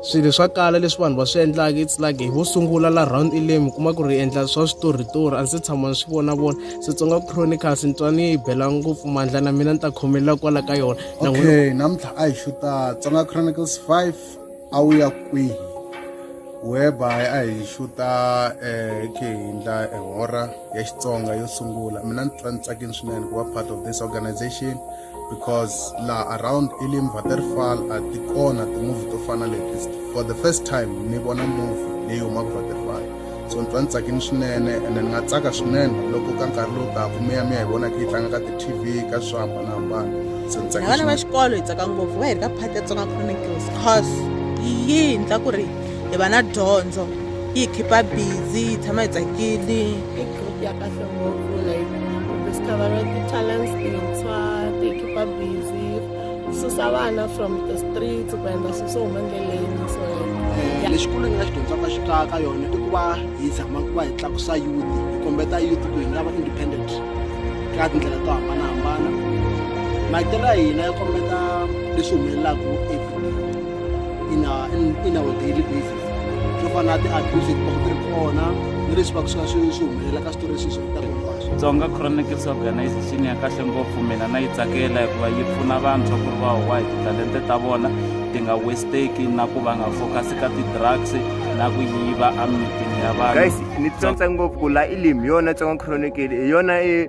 swilo swa kala leswi vanhu va swi endlaka it's like hi vo sungula la round elem kuma ku ri endla swa switoritori a ndzi se tshama ni swi vonavona setsonga chronicles ni twa ni yi bela ngopfu mandla na mina ni ta khomelela kwala ka yona okay namuntlha a hi xuta tsonga chronicles five a wu ya kwihi whereby a hi xuta eh, khe hi endla ehora ya xitsonga yo sungula mina ni twa ni tsakini swinene ku va part of this organization because laha around elim vaterfal a ti kona timovhi to fana leti for the first time ni vona movhi leyi humaka vaterfal so ni twa ni tsakini swinene ene ni nga tsaka swinene loko ka nkarhi lowu taka mi ya mi ya hi vona khe yi tlanga ka ti-tv ka swi hambanahambana se ni tsakini vana va swinene. xikolo hi tsaka ngopfu va hi ri ka phati ya tsonga chronicles cause yi hi endla ku ri hi va na dyondzo yi hi khipa busy hi tshama hi tsakile i group ya kahle ngopfu like discover ti-talents tintshwa ti-keeper busy susa vana from the streets ku endla swilo swo huma endleleni so eh, lexi kulu ni nga xi dyondzaka xi ka ka yona i ku va hi zama ku va hi tlakusa youth hi kombeta youth ku hi nga va independent ka tindlela to hambanahambana maitelo ya hina ya kombeta leswi humelelaka in our, in, in our daily basis swo fana na ti-abuse leti vaka ti ri kona ni leswi va ku swi va swi swi humelela ka switori leswi swi vitaka hinkwaswo tsonga chronicles organization ya kahle ngopfu mina na yi tsakela hikuva yi pfuna vantshwa ku ri va huwa hi titalente ta vona ti nga westeki na ku va nga focus ka ti-drugs na ku yiva emitini ya vanhu guys ni tsotsa ngopfu ku la ilim yona tsonga chronicale hi yona i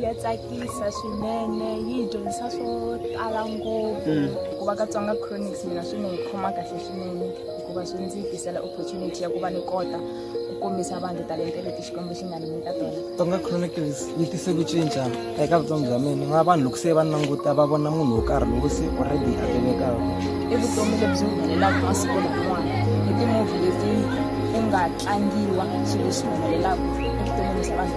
ya tsakisa swinene yi hi dyondzisa swo tala ngopfu mm. ku va katsonga chronics mina swi ni hi khoma kahle swinene hikuva swi ndzi tisela opportunity ya ku va ni kota ku kombisa vanhu talente leti xikwembu xi nga ni nyika tona tsonga chronicles yi tise ku cinca eka vutomi bya mina va vanhu loko se va languta va vona munhu wo karhi lowu se already a tivekaka i vutomi lebyi humelelaka masiku laman'wana hi timovhi leti ku nga tlangiwa swilo leswi humelelaka evuton'wini bya vanhu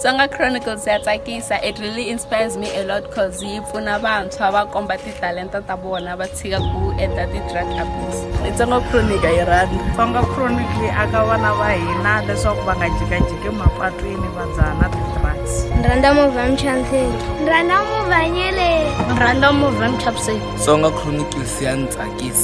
Tsonga Chronicles ya tsakisa it really inspires me a lot cause yi pfuna vantshwa va komba titalenta ta vona va tshika ku endla ti-drug abuse Tsonga Chronicle yi rhandza Tsonga Chronicle yi aka vana va hina leswaku va nga jikajiki mapatwini va dzaha na ti-drugs Ni rhandza movha ya Mchantheni Ni rhandza movha ya Nyeleni Ni rhandza movha ya Mchapseni Tsonga Chronicles ya ni tsakisa